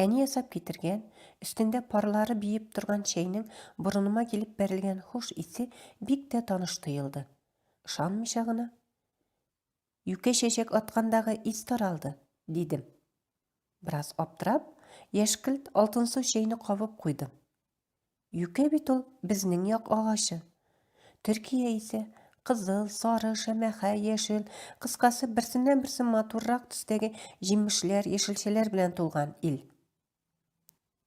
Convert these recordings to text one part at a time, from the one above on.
Әни ясап китергән, өстендә парлары биеп торган чәйнең борыныма килеп бәрелгән хуш исе бик тә таныш тоелды. Ышанмыйча гына, Юкә чәчәк аткандагы ис таралды, дидем. Бераз аптырап, яшькелт алтынсу чәйне кабып куйдым. Юкә бит ул безнең як агачы. Төркия исә кызыл, сары, шәмәхә, яшел, кыскасы берсеннән-берсе матуррак төстәге җимешләр, яшелчәләр белән тулган ил.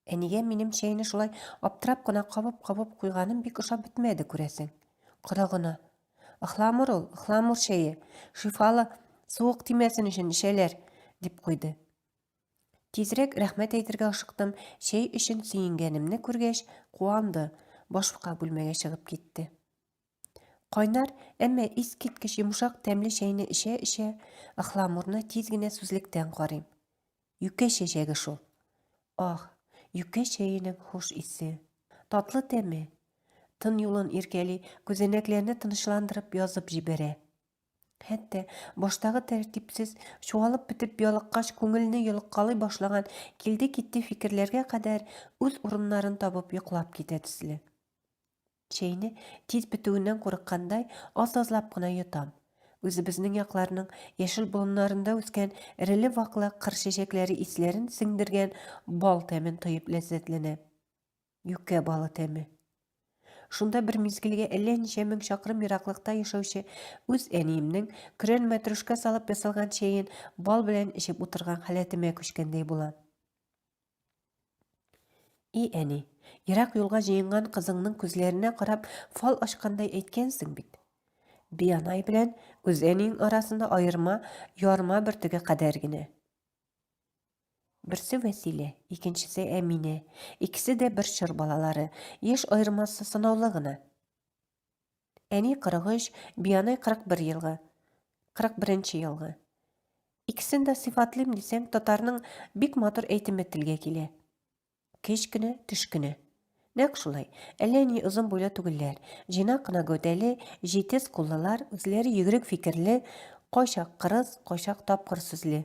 Әнигә минем чәйне шулай аптырап кына кабып-кабып куйганым бик ошап бетмәде, күрәсең. Корыгына. Ыхламур ул, ыхламур чәе. Шифалы, суык тимәсен өчен эчәләр, дип куйды. Тизрәк рәхмәт әйтергә ашыктым, чәй өчен сөенгәнемне күргәч, куанды, башка бүлмәгә чыгып китте. Кайнар, әмма искиткеч йомшак тәмле чәйне эчә-эчә, Ыхламурны тиз генә сүзлектән карыйм. Юкә чәчәге шул. Ах, юкә чәенең хуш исе. Татлы тәме. Тын юлын иркәли, күзәнәкләрне тынычландырып язып җибәрә. Хәтта баштагы тәртипсез, чуалып бетеп ялыккач күңелне йолыккалый башлаган килде-китте фикерләргә кадәр үз урыннарын табып йоклап китә төсле. Чәйне тиз бетүеннән курыккандай аз-азлап кына йотам. Үзебезнең якларның яшел болыннарында үскән эреле-ваклы кыр чәчәкләре исләрен сеңдергән бал тәмен тоеп ләззәтләнә. Юкә балы тәме. Шунда бер мизгелгә әллә ничә мең чакрым ераклыкта яшәүче үз әниемнең көрән мәтрүшкә салып ясалган чәен бал белән эчеп утырган халәтемә күчкәндәй була. И әни, ерак юлга җыенган кызыңның күзләренә карап фал ачкандай әйткәнсең бит. Биянай белән үз әниең арасында аерма, ярма бөртеге кадәр генә. Берсе Вәсилә, икенчесе Әминә. Икесе дә бер чор балалары. Яшь аермасы сынаулы гына. Әни 43, Биянай 41 елгы. 41 елгы. Икесен дә сыйфатлыйм дисәң, татарның бик матур әйтеме телгә килә. Кечкенә, төшкенә. Нәкъ шулай. Әллә ни озын буйлы түгелләр. Җыйнак кына гәүдәле, җитез куллылар, үзләре йөгерек фикерле, кайчак кырыс, кайчак тапкыр сүзле.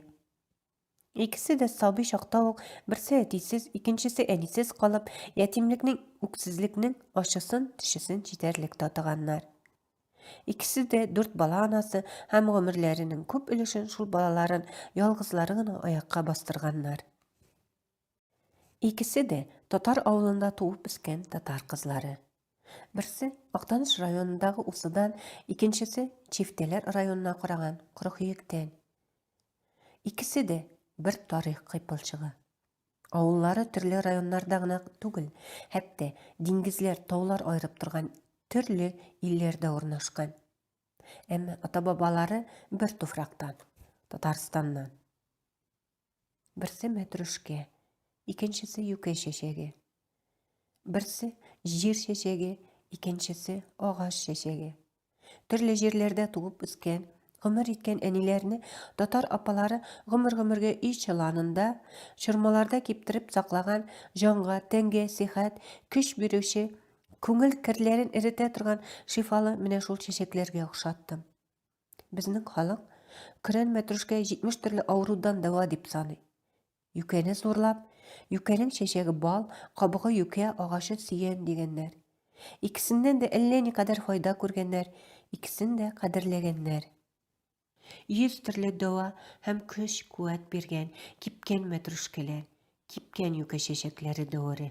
Икесе дә сабый чакта ук берсе әтисез, икенчесе әнисез калып, ятимлекнең, үксезлекнең ачысын, төчесен җитәрлек татыганнар. Икесе дә дүрт бала анасы һәм гомерләренең күп өлешен шул балаларын ялгызлары гына аякка бастырганнар. Икесе дә татар авылында туып үскән татар кызлары. Берсе Актаныш районындагы Усыдан, икенчесе Чифтәләр районына караган Корыхөектән. Икесе дә бер тарих кыйпылчыгы. Авыллары төрле районнарда гына түгел, хәтта диңгезләр, таулар аерып торган төрле илләрдә урнашкан. Әмма ата-бабалары бер туфрактан, Татарстаннан. Берсе мәтрүшкә, икенчесе юкә чәчәге. Берсе җир чәчәге, икенчесе агач чәчәге. Төрле җирләрдә туып үскән, гомер иткән әниләрне татар апалары гомер-гомергә өй чыланында, чормаларда киптереп саклаган җанга, тәнгә сихәт, көч бирүче, күңел керләрен эретә торган шифалы менә шул чәчәкләргә охшаттым. Безнең халык көрән мәтрүшкә 70 төрле авырудан дәва дип саный. Юкәне зурлап, юкәнең чәчәге бал, кабыгы юкә, агачы сөян дигәннәр. Икесеннән дә әллә никадәр файда күргәннәр, икесен дә кадерләгәннәр. Йөз төрле дәва һәм көч-куәт биргән кипкән мәтрүшкәләр, кипкән юкә чәчәкләре дәвере.